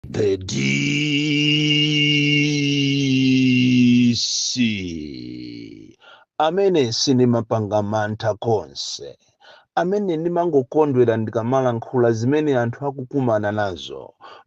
The DC amene sindimapanga mantha konse, amene ndimangokondwera ndikamalankhula zimene anthu akukumana nazo,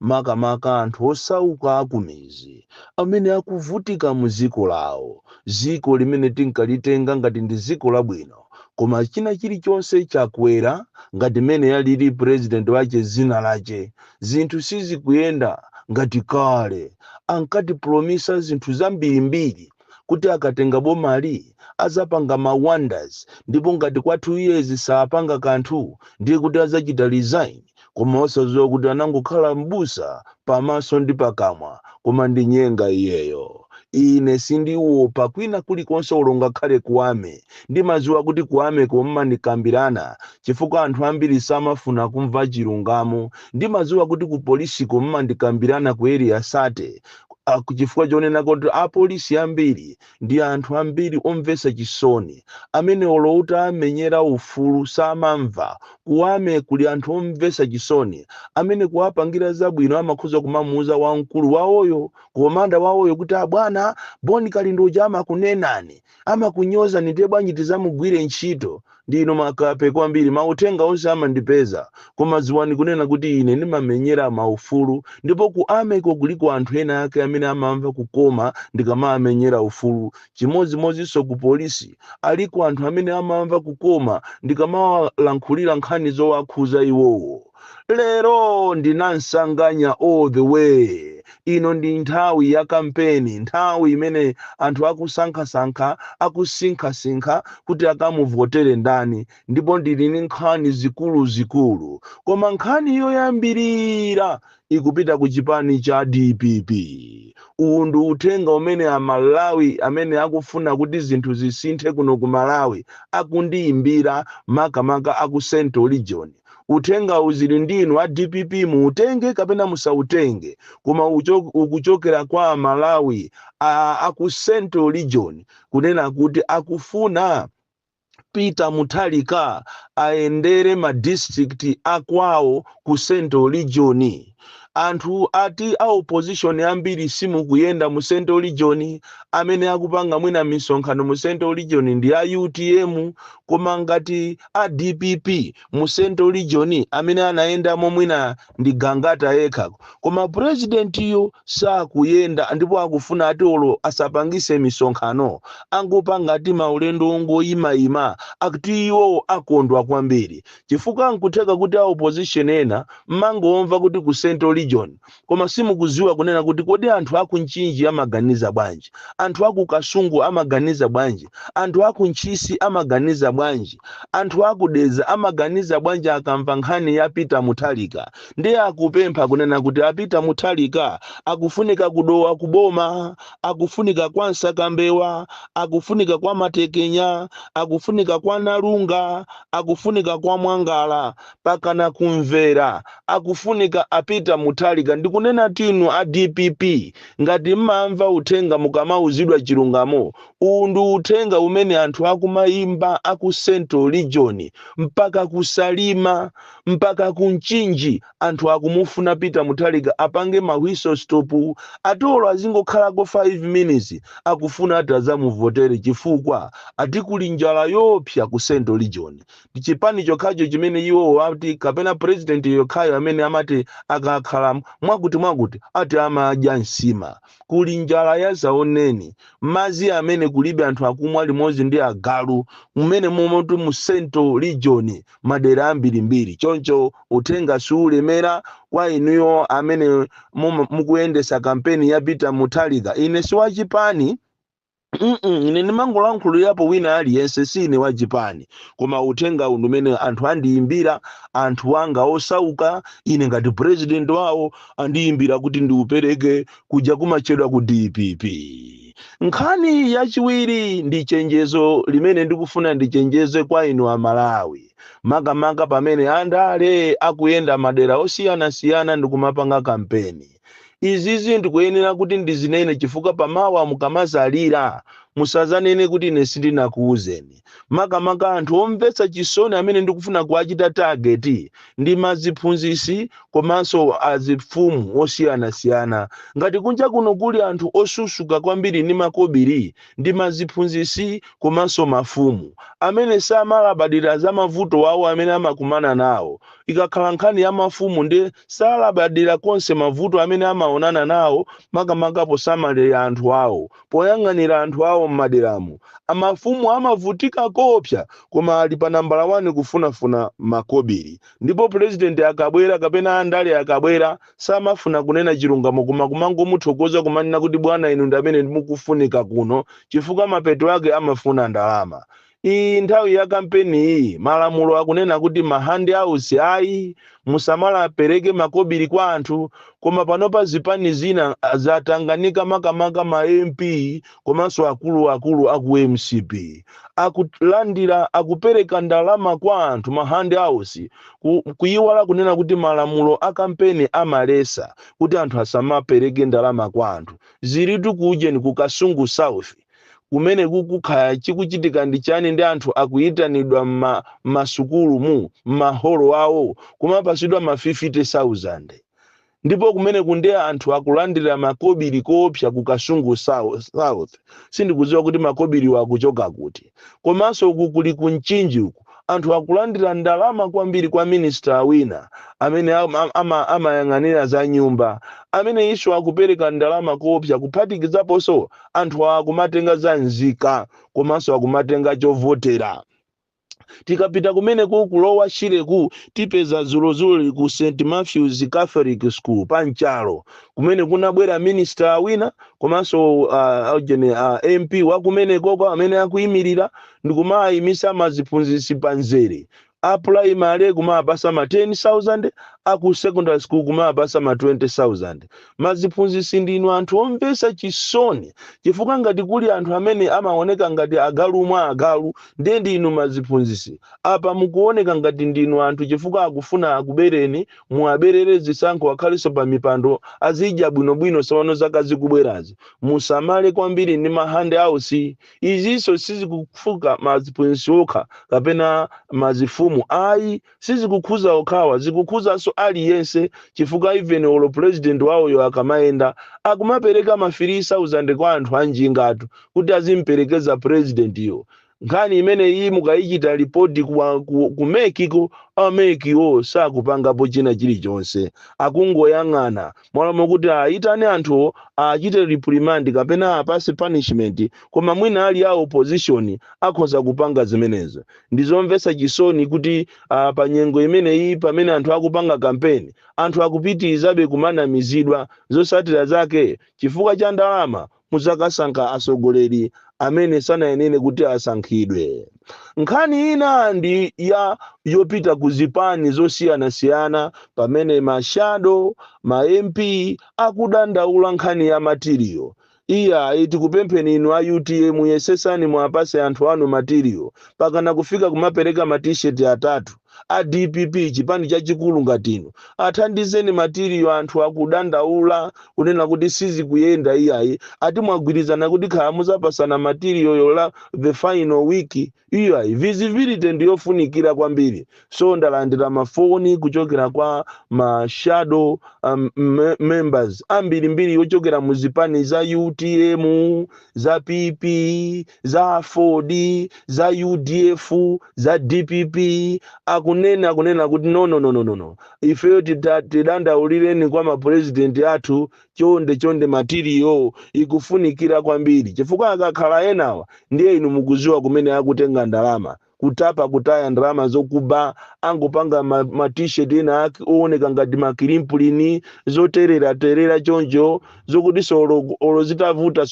makamaka anthu osauka akumizi amene akuvutika mu dziko lawo, dziko limene tinkalitenga ngati ndi dziko labwino koma china chilichonse chakwera ngati mmene yalili president wache dzina lache zinthu sizikuyenda ngati kale. Ankatipromisa zinthu zambirimbiri kuti akatenga bomali azapanga ma wonders ndipo ngati kwa 2 years sapanga kanthu ndiye kuti azachita resign koma osaziwa kuti anangokhala m'busa pamaso ndi pakamwa koma ndi nyenga iyeyo. Ine sindiwopa kwina kulikonse olo ngakhale ku army. Ndimaziwa kuti ku army ko mumandikambirana chifukwa anthu ambiri samafuna kumva chilungamo. Ndimadziwa kuti ku polisiko mumandikambirana ku area 30 chifukwa chonena kuti apolisi ambiri ndi anthu ambiri omvetsa chisoni amene olo utawamenyera ufulu samamva. Ku army kuli anthu omvetsa chisoni amene kuwapangira zabwino amakhoza kumamuuza wamkulu wawoyo komanda wawoyo kuti abwana Bon Kalindo uja amakunenani amakunyozani ndiye bwanji tizamugwire ntchito ndinu makape kwambiri mauthenga onse amandipeza koma dziwani kunena kuti ine ndimamenyera maufulu ndipo ku army ko kuliko anthu ena ake amene amamva kukoma ndikamawamenyera ufulu chimodzimodzinso ku polisi aliko anthu amene amamva kukoma ndikamawalankhulira nkhani zowakhuza iwowo lero ndi nansanganya all the way ino ndi nthawi ya kampeni nthawi imene anthu akusankhasankha akusinkhasinkha kuti akamuvotere ndani ndipo ndili ndi nkhani zikuluzikulu koma nkhani yoyambirira ikupita ku chipani cha dpp uwu ndi uthenga umene amalawi amene akufuna kuti zinthu zisinthe kuno ku malawi akundiyimbira makamaka aku central region Uthengawu zili ndi inu a dpp muutenge kapena musautenge koma ukuchokera kwa amalawi a ku central region kunena kuti akufuna Peter Mutharika ayendere ma district a kwawo ku central region. anthu ati a opposition ambiri simukuyenda mu central region amene akupanga mwina misonkhano mu central region ndi a utm koma ngati a dpp mu central region amene anayendamo mwina ndi gangata yekha koma purezidentiyo sakuyenda ndipo akufuna ati olo asapangise misonkhano angopanga ati maulendo ongoyimayima akuti iwo akondwa kwambiri chifukwa nkutheka kuti a opposition ena mmangomva kuti ku central region koma simukuziwa kunena kuti kodi anthu aku mchinji amaganiza bwanji, anthu aku kasungu amaganiza bwanji, anthu aku ntchisi amaganiza bwanji, anthu aku dedza amaganiza bwanji akamva nkhani ya peter muthalika ndiye akupempha kunena kuti a peter muthalika akufunika ku dowa ku boma, akufunika kwa msakambewa, akufunika kwa matekenya, akufunika kwa nalunga, akufunika kwa mwangala mpakana ku mvera akufunika a peter muthalika ndikunenatu inu a dpp ngati mmamva uthenga mukamauzidwa chilungamo uwu ndi uthenga umene anthu akumaimba aku central region mpaka ku salima mpaka ku mchinji Anthu akumufuna Peter Muthalika apange ma whistle stop ati olo azingokhalako 5 minutes akufuna ati azamuvotere chifukwa ati kuli njala yoopsa ku central region. Ndi chipani chokhacho chimene iwowo ati kapena president yekhayo amene amati akakhala mwakuti mwakuti ati amadya nsima. Kuli njala yadzaoneni, madzi amene kulibe anthu akumwa limodzi ndi agalu mmenemomotu mu central region madera ambirimbiri choncho uthenga siulemera kwa inuyo amene mukuyendetsa kampeni ya Peter Mutharika ine siwachipani Mm-mm, ine ndimangolankhulirapo wina aliyense si ine wa chipani koma uthenga uwu umene anthu andiyimbira anthu anga osauka ine ngati president wawo andiyimbira kuti ndiupereke kuja kumatchedwa ku dpp nkhani yachiwiri ndi chenjezo limene ndikufuna ndichenjeze kwa inu amalawi makamaka pamene andale akuyenda madera osiyanasiyana ndikumapanga kampeni Izizi ndikuyenera kuti ndizinene chifukwa pamawa mukamazalira musazanene kuti ine sindinakuuzeni. Makamaka anthu omvetsa chisoni amene ndikufuna kuwachita target ndi maziphunzisi komanso azifumu osiyanasiyana. Ngati kunja kuno kuli anthu osusuka kwambiri ndi makobiri ndi maziphunzisi komanso mafumu amene samalabadira za mavuto awo amene amakumana nawo, Ikakhala nkhani ya mafumu nde salabadira konse mavuto amene amaonana nawo makamaka posamalira anthu awo, poyang'anira anthu awo m'maderamu. A mafumu amavutika koopsa koma ali pa nambala wani kufunafuna makobiri. Ndipo pulezidenti akabwera kapena andale akabwera samafuna kunena chilungamo koma kumangomuthokoza kumanena kuti bwana inu ndi amene mukufunika kuno chifukwa mapeto ake amafuna ndalama. Iyi nthawi ya kampeni iyi malamulo akunena kuti ma hand outs ayi musamala apereke makobiri kwa anthu koma panopa zipani zina zatanganika makamaka ma MP komanso akulu akulu aku MCP akulandira akupereka ndalama kwa anthu ma hand outs ku, kuyiwala kunena kuti malamulo a kampeni amalesa kuti anthu asamapereke ndalama kwa anthu zilitu ku ujeni ku Kasungu South kumene kukukhala chikuchitika ndi chani ndi anthu akuyitanidwa mma masukulu mu maholo awo kumapasidwa ma 50000 ndipo kumeneku nde anthu akulandira makobiri koopsa ku Kasungu Sou- South sindikudziwa kuti makobiriwo akuchoka kuti komanso uku kuli ku Mchinji uku anthu akulandira ndalama kwambiri kwa minister wina amene ama- ama- amayang'anira za nyumba ameneyinso akupereka ndalama koopsa kuphatikizaponso anthu awa akumatenga za nzika komanso akumatenga chovotera tikapita kumeneku ku Lower Shireku tipeza zulozuli ku St Matthews Catholic School pa Nchalo kumene kunabwera minister wina komanso uh, ujeni, uh, MP wakumenekoko amene akuyimirira ndikumaayimisa ma ziphunzisi pa nzere, a pulayimale kumawapasa ma 10,000, a ku secondary school kumawapasa ma 20,000. Ma ziphunzisi ndinu anthu omvesa chisoni chifukwa ngati kuli anthu amene amawoneka ngati agalu mwa agalu ndiye ndi inu ma ziphunzisi. Apa mukuwoneka ngati ndinu anthu chifukwa akufuna akubereni, muwaberere zisankho akhaleso pa mipando azidya bwino bwino zisanu zaka zikubwerazi. Musamale kwambiri ndi ma hand outs. izinso sizikukhuza maziphunzitsi okha kapena mazifumu ayi sizikukhuza okhawa zikukhuzanso aliyense chifukwa even olo president wawoyo akamayenda akumapereka ma 3000 kwa anthu anjingatu kuti azimperekeza president yo nkhani imeneyi mukayichita lipoti kuwa- ku- ku MEC ko a MEC wo sakupangapo china chilichonse akungoyang'ana Mmalo mokuti ayitane anthuwo achite reprimand kapena apase punishment koma mwina ali a opposition akhoza kupanga zimenezo. Ndizomvetsa chisoni kuti uh, pa nyengo imeneyi pamene anthu akupanga campaign anthu akupitirizabe kumanamizidwa zotsatira zake chifukwa cha ndalama Mudzakasankha atsogoleri amene sanayenere kuti asankhidwe. Nkhani ina ndi ya yopita ku zipani zosiyanasiyana pamene ma shadow ma MP akudandaula nkhani ya material. Iyayi tikupempheni inu a UTM yesetsani muwapatse anthu anu material. Mpakana kufika kumapereka ma T-shirt atatu. a dpp chipani chachikulu ngati inu athandizeni material anthu akudandaula kunena kuti sizikuyenda iyayi ati mwagwirizana kuti khala muzapatsana material yo the final week iyayi visibility ndiyofunikira kwambiri so ndalandira mafoni kuchokera kwa ma shadow members ambirimbiri yochokera mu zipani za utm za pp za aford za udf za dpp akunena akunena kuti no no no no no no ifeyo tidandaulireni kwa mapurezidenti athu chonde chonde material ikufunikira kwambiri chifukwa akakhala enawa ndiye inu mukuziwa kumene akutenga ndalama kutapa kutaya ndalama zokuba angopanga ma t-shirt ena owoneka ngati makilimpulini zotereraterera choncho zokutinso olo zitavuta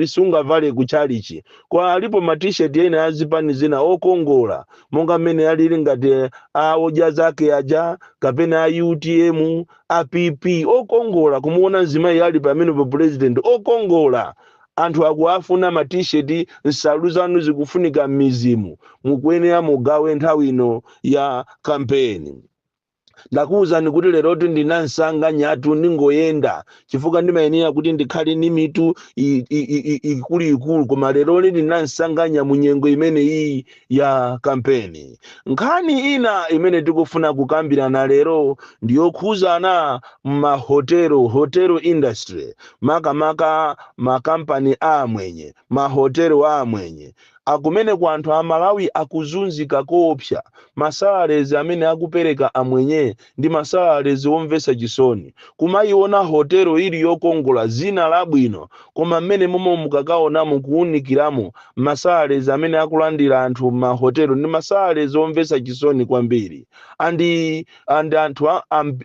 sungavale ku chalichi kwa alipo ma t-shirt ena azipani zina okongola monga mmene alili ngati a odya zake aja kapena a utm a pp okongola kumuona mzimayi ali pamenepo president okongola Anthu akuwafuna ma t-shirt nsalu zanu zikufunika mmidzimu mukuyenera mugawe nthawi ino ya campaign. Ndakuuzani kuti lerotu ndi nansanganyatu ndingoyenda chifukwa ndimayenera kuti ndikhale ndi mitu ikuluikulu koma leroli ndi nansanganya munyengo imeneyiyi ya kampeni. Nkhani ina imene tikufuna kukambirana lero ndi yokhuzana mahotelo, hotel industry, makamaka makampani a amwenye, mahotelo a amwenye. Kumeneko anthu a Malawi akuzunzika koopsa. Masalarezi amene akupereka amwenye Ndi masalalezi omvetsa chisoni, kumaiona hotelo ili yokongola, dzina labwino, koma mmene momwe mukakaonamo kuunikiramo, masalalezi amene akulandira anthu m'mahotelo ndi masalalezi omvetsa chisoni kwambiri. And, and anthu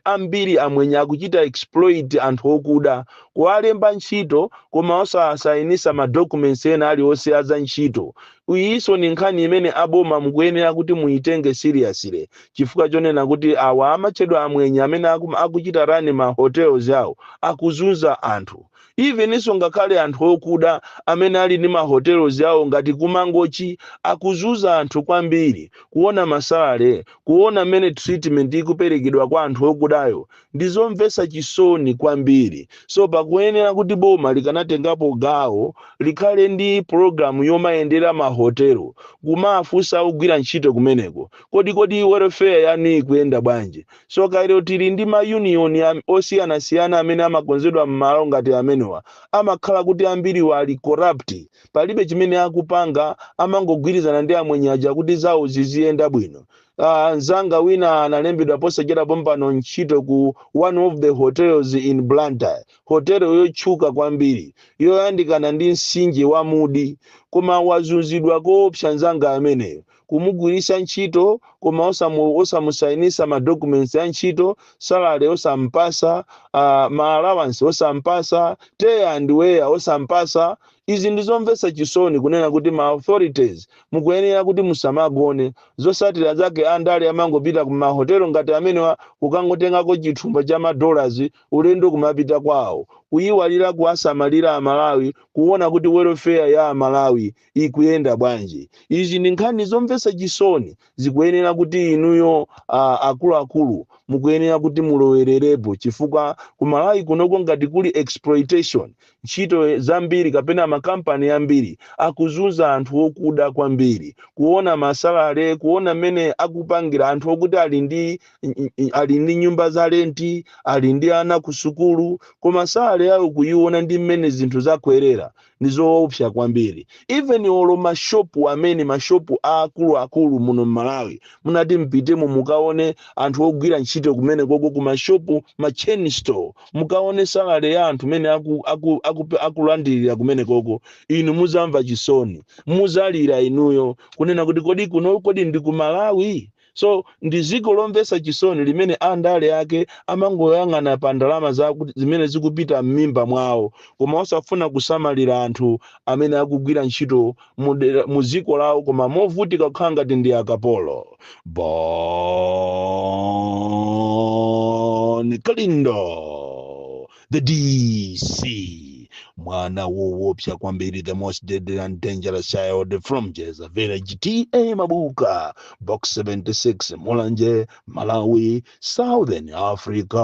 ambiri amwenye akuchita exploit anthu okuda, kuwalemba ntchito koma osawasainisa ma documents ena alionse a za ntchito. Iyinso ndi nkhani imene a boma mukuyenera kuti muyitenge seriously chifukwa chonena kuti awa amatchedwa amwenye amene akuchita run ma hotels awo akuzunza anthu eveninso ngakhale anthu okuda amene ali ndi ma hotels awo ngati ku Mangochi akuzunza anthu kwambiri kuona ma salary kuona mmene treatment ikuperekedwa kwa anthu okudayo Ndi zomvetsa chisoni kwambiri. So pakuyenera kuti boma likanatengapo gawo likhale ndi program yomayendera ma hotel kumafunsa ogwira ntchito kumeneko kodi kodi welfare yanu ikuyenda bwanji. So called tili ndi ma union osiyanasiyana amene amakonzedwa mmalo ngati amenewa amakhala kuti ambiri ali corrupt palibe chimene akupanga amangogwirizana ndi amwenye aja kuti zawo ziziyenda bwino. Uh, nzanga wina analembedwa posachedwa pompano ntchito ku one of the hotels in Blantyre hotelo yotchuka kwambiri yoyandikana ndi msinje wa Mudi koma wazunzidwa koopsa nzanga ameneyo kumugwiritsa ntchito koma osamu, osamusayinisa madocuments ya ntchito salary osampasa uh, ma allowance osampasa tear and wear osampasa Izi ndi zomvetsa chisoni kunena kuti ma authorities mukuyenera kuti musamagone, zosatira zake andale amangopita ku mahotelo ngati amenewa kukangotengako chithumba cha ma dollars ulendo kumapita kwawo, kuyiwalira kuwasamalira aMalawi kuwona kuti welfare ya aMalawi ikuyenda bwanji. Izi ndi nkhani zomvetsa chisoni. zikuyenera kuti inuyo uh, akuluakulu mukuyenera kuti mulowererepo chifukwa ku Malawi kunoko ngati kuli exploitation ntchito zambiri kapena makampani ambiri akuzunza anthu okuda kwambiri kuona masalale kuona mmene akupangira anthu okuti ali ndi ali ndi nyumba za lenti ali ndi ana ku sukulu koma salale yawo kuyiona ndi mmene zinthu zakwerera ndizoopsa kwambiri even olo mashopu amene mashopu akuluakulu muno mMalawi mutati mupitemo mukaone anthu ogwira ntchito kumene koko ku mashopu ma chain store mukaone salale ya anthu mene aku, aku, aku, akulandirira kumene koko inu muzamva chisoni muzalira inuyo kunena kuti kodi kuno kodi ndi ku Malawi so ndi dziko lomvetsa chisoni limene andale ake amangoyang'ana pa ndalama zaku- zimene zikupita m'mimba mwawo koma osafuna kusamalira anthu amene akugwira ntchito mu dera- mu dziko lawo koma movutika kukhala ngati ndi akapolo Bon Kalindo the dc mwana wowopsa kwambiri the most deadly and dangerous child from jeza village ta mabuka box 76 mulanje malawi southern africa